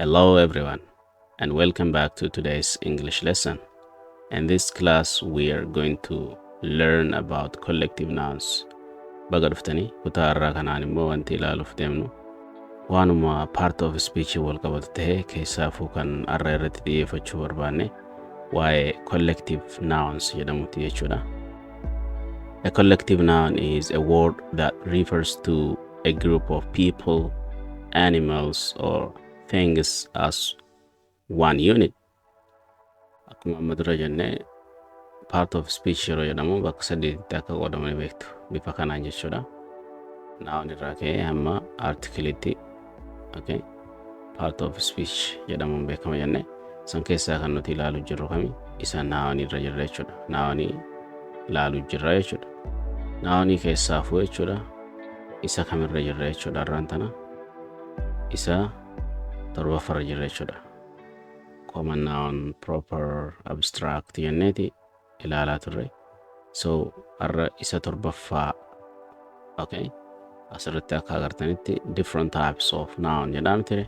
Hello everyone and welcome back to today's English lesson. In this class we are going to learn about collective nouns. Baga dhuftanii kutaa irraa kanaan immoo wanti ilaaluuf deemnu waanuma part of speech wal qabatu ta'e keessaafuu kan arra irratti dhiyeeffachuu barbaanne waa'ee collective nouns jedhamutti jechuudha. A collective noun is a word that refers to a group of people, animals, or things as one unit. Akkuma amma dura jenne part of speech yeroo jedhamu bakka sadiitti akka qoodamanii beektu bifa kanaan jechuudha. Noun irraa ka'ee hamma artikilitti okay. part of speech jedhamuun beekama jenne san keessaa kan nuti ilaalu jirru kami isa naawanii irra jirra jechuudha naawanii ilaalu jirra jechuudha naawanii keessaa fuu jechuudha isa kamirra jirra jechuudha irraan tana isa torbaffarra jirra jechuudha common noun proper abstract jenneeti ilaalaa turre so har'a isa torbaffaa okay asirratti akka agartanitti different types of noun jedhaam ture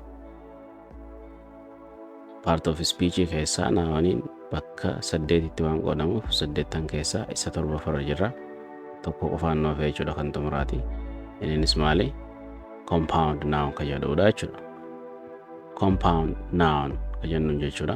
part of speech keessaa naawaniin bakka saddeetitti waan qoodamuuf saddeettan keessaa isa torbaffarra jirra tokko qofaan nuuf jechuudha kan xumuraati innis maali compound noun kan jedhudha jechuudha compound noun kan jennu jechuudha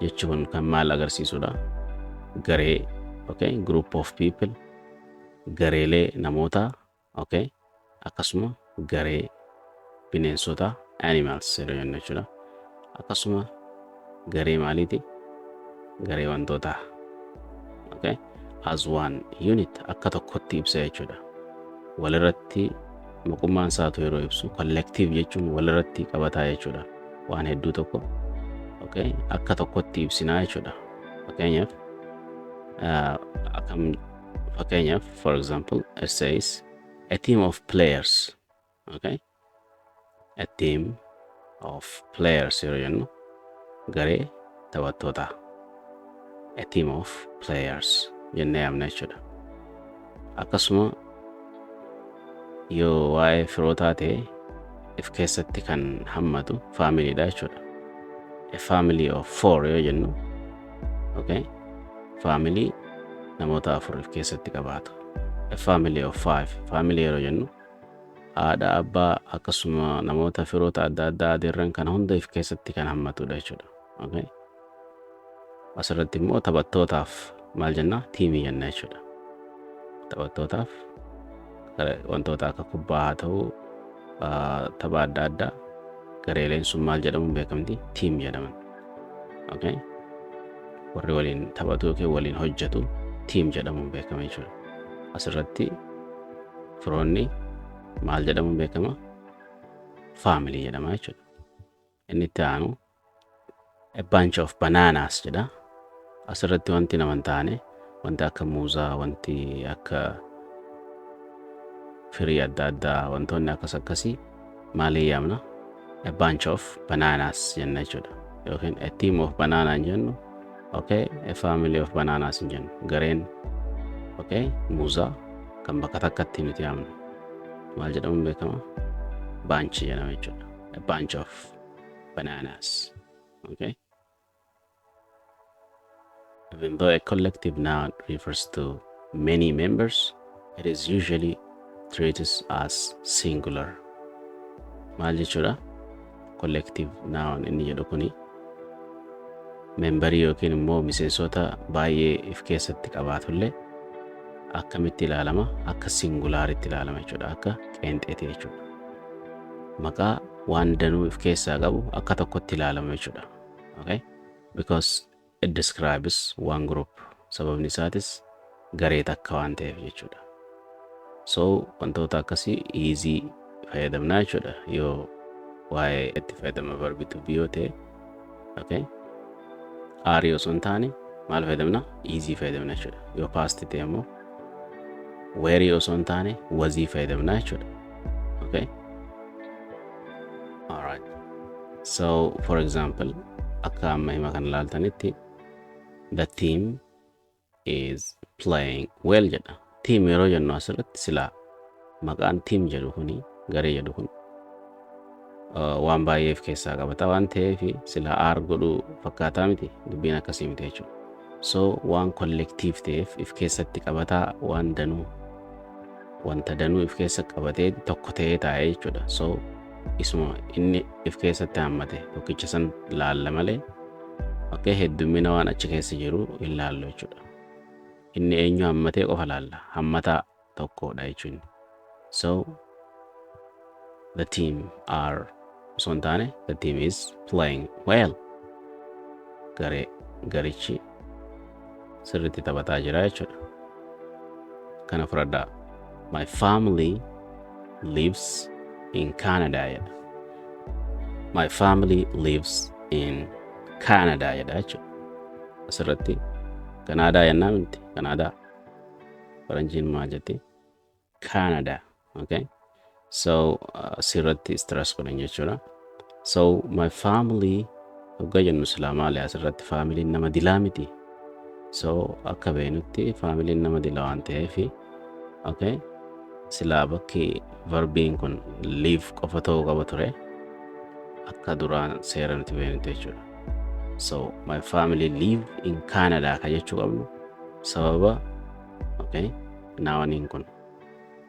jechi kun kan maal agarsiisudha garee okay group of people gareelee namootaa okay akkasuma garee bineensota animals yeroo jennu jechuudha akkasuma garee maaliiti garee wantootaa okay as one unit akka tokkotti ibsa jechuudha. Walirratti maqummaan isaatu yeroo ibsu collective jechuun walirratti qabataa jechuudha. Waan hedduu tokko okay, akka tokkotti ibsinaa jechuudha. Fakkeenyaaf akkam fakkeenyaaf for example it says a team of players okay a team of players yeroo jennu garee taphattootaa a team of players jennee yaamna jechuudha akkasuma yoo waa'ee firootaa ta'e if keessatti kan hammatu faamiliidha jechuudha a family of four yoo jennu okay faamilii namoota afur if keessatti qabaatu a family of five faamilii yeroo jennu haadha, abbaa akkasuma namoota firoota adda addaa adeerran kana hunda if keessatti kan hammatudha jechuudha. Okay? Asirratti immoo taphattootaaf maal jenna? Tiimii jenna jechuudha. Taphattootaaf gara- wantoota akka kubbaa haa ta'u ah, tapha adda addaa gareeleen sun maal jedhamuun beekamti? Tiim jedhaman. Okay? Warri waliin taphatu yookiin waliin hojjetu tiim jedhamuun beekama jechuudha. Asirratti firoonni maal jedhamuun beekama? Faamilii jedhama jechuudha. Inni itti aanu a bunch of bananas jedha. As irratti wanti nama hin taane wanti akka muuzaa, wanti akka firii adda addaa, wantoonni akkas akkasii maalii yaamna? A bunch of bananas jenna jechuudha. Yookiin a team of banana hin jennu, okay, a family of bananas hin jennu. Gareen okay, muuzaa kan bakka takkatti nuti yaamnu maal jedhamuun beekama? Bunch jedhama jechuudha. A bunch of bananas. Okay. Even though a collective noun refers to many members, it is usually treated as singular. Maal jechuudha? Collective noun inni jedhu kuni membarii yookiin immoo miseensota baay'ee if keessatti qabaatullee akkamitti ilaalama? Akka singulaaritti ilaalama jechuudha. Akka qeenxeeti jechuudha. Maqaa waan danuu if keessaa qabu akka tokkotti ilaalama jechuudha. Okay? Because it describes one group. Sababni isaatis garee takka waan ta'eef jechuudha. So wantoota akkasii easy fayyadamnaa jechuudha yoo waa'ee itti fayyadama verbi to be yoo ta'e okay aarii osoo hin taane maal fayyadamna iizii fayyadamna jechuudha yoo paasti ta'e immoo weerii osoo hin taane wazii fayyadamna jechuudha okay alright so for example akka amma hima kan ilaaltanitti the team is playing well jedha. Team yeroo jennu asirratti silaa maqaan team jedhu kuni garee jedhu kun uh, waan baay'eef keessaa qabata waan ta'eef silaa aar godhuu fakkaataa miti dubbiin akkasii miti jechuudha. So waan kollektiif ta'eef if keessatti qabataa waan danuu wanta danuu if keessa qabatee tokko ta'ee taa'e jechuudha. So isuma inni if keessatti hammate tokkicha san laalla malee okay, heddummina waan achi keessa jiru hin laallu jechuudha. Inni eenyu hammatee qofa laalla. Hammataa tokkodha jechuun. So the team are osoo hin taane the team is playing well garee garichi sirriitti taphataa jira jechuudha kana fudhadhaa my family lives in canada jedha my family lives in canada jedha jechuudha asirratti kanaadaa yennaa miti kanaadaa faranjiin maa jetti Canada. Okay. So uh, asirratti stress godhan jechuudha. So my family hoggaa jennu silaa maali asirratti faamiliin nama dilaa miti. So akka beenutti faamiliin nama dila waan ta'eef okay. silaa bakki varbiin kun liif qofa ta'uu qaba ture akka duraan seera nuti beenutti jechuudha. So my family live in Canada ka jechuu qabnu sababa okay. Naawaniin kun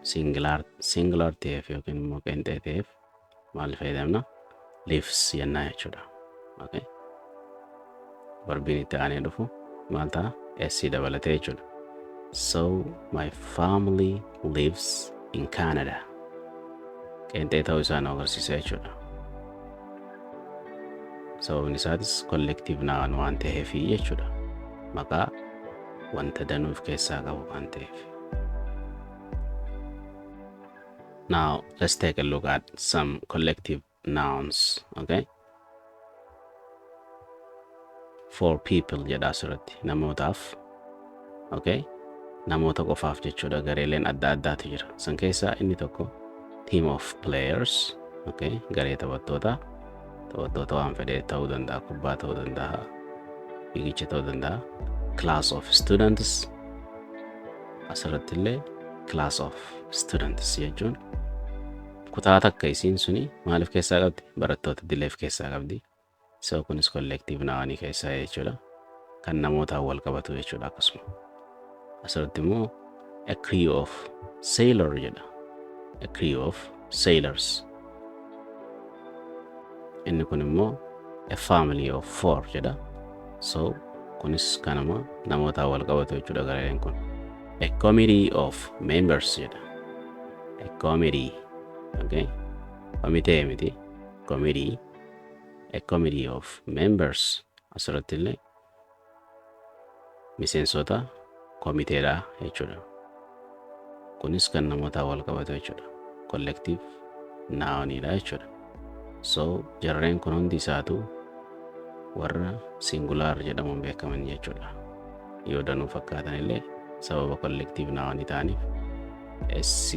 singular singular ta'eef yookiin immoo qeenxee ta'eef maal fayyadamna? Lives jennaa jechuudha. Okay. Barbiin itti aanee dhufu maal ta'a? S dabalatee jechuudha. So my family lives in Canada. Qeenxee ta'uu isaa nu agarsiisa jechuudha. Sababni isaatis collective noun waan ta'eef jechuudha. Maqaa wanta danuu of keessaa qabu waan ta'eef. Now let's take a look at some collective nouns. Okay. for people jedha asirratti namootaaf okay namoota qofaaf jechuudha gareeleen adda addaatu jira san keessaa inni tokko team of players okay garee taphattootaa taphattoota waan fedhe ta'uu danda'a kubbaa ta'uu danda'a fiigicha ta'uu danda'a class of students asirratti illee class of students jechuun kutaa takka isiin suni maaliif keessaa qabdi barattoota dileef keessaa qabdi So kunis collective noun keessaa jechuudha. Kan namootaan wal qabatu jechuudha akkasuma. Asirratti immoo a crew of sailor jedha. A crew of sailors. Inni kun immoo a family of four jedha. So kunis kanuma namootaan wal qabatu jechuudha gareen kun. A committee of members jedha. A committee. Okay. Komitee miti. Committee. a committee of members asirratti illee miseensota komiteedha jechuudha. Kunis kan namootaa wal qabatu jechuudha. Collective naawoniidha jechuudha. So jarreen kun hundi isaatu warra singulaar jedhamuun beekaman jechuudha. Yoo danuu fakkaatan illee sababa collective naawonii ta'aniif SC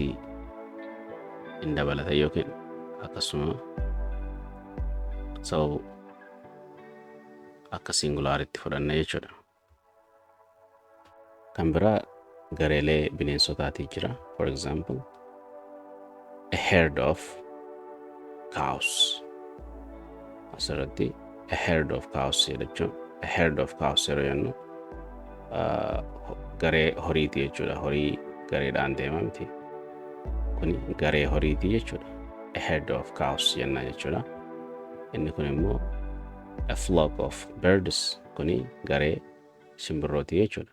hin dabalata yookiin akkasuma so akka singulaaritti fudhanna jechuudha. Kan biraa gareelee bineensotaatii jira. For example, a herd of cows asirratti a herd of cows jechuun a herd of cows yeroo jennu ah, ho- garee horiiti jechuudha horii gareedhaan deema miti kun garee horiiti jechuudha a herd of cows jenna jechuudha inni kun immoo a flock of birds kuni garee simbirrooti jechuudha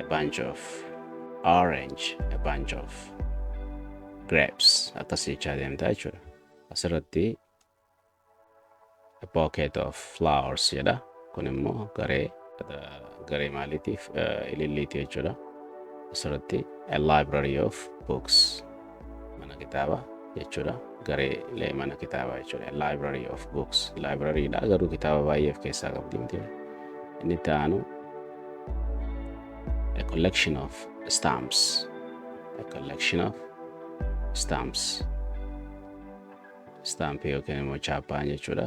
a bunch of orange a bunch of grapes akkas jechaa deemta jechuudha asirratti a pocket of flowers jedha kun immoo garee garee maaliitiif ililliiti jechuudha asirratti a library of books mana kitaabaa jechuudha gareelee mana kitaabaa jechuudha library of books library dha garuu kitaaba baay'ee of keessaa qabdi miti inni itti aanu a collection of stamps a collection of stamps stamp yookiin immoo chaappaan jechuudha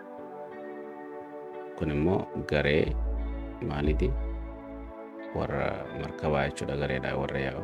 kun immoo garee maaliti warra markabaa jechuudha gareedha warra yaa'u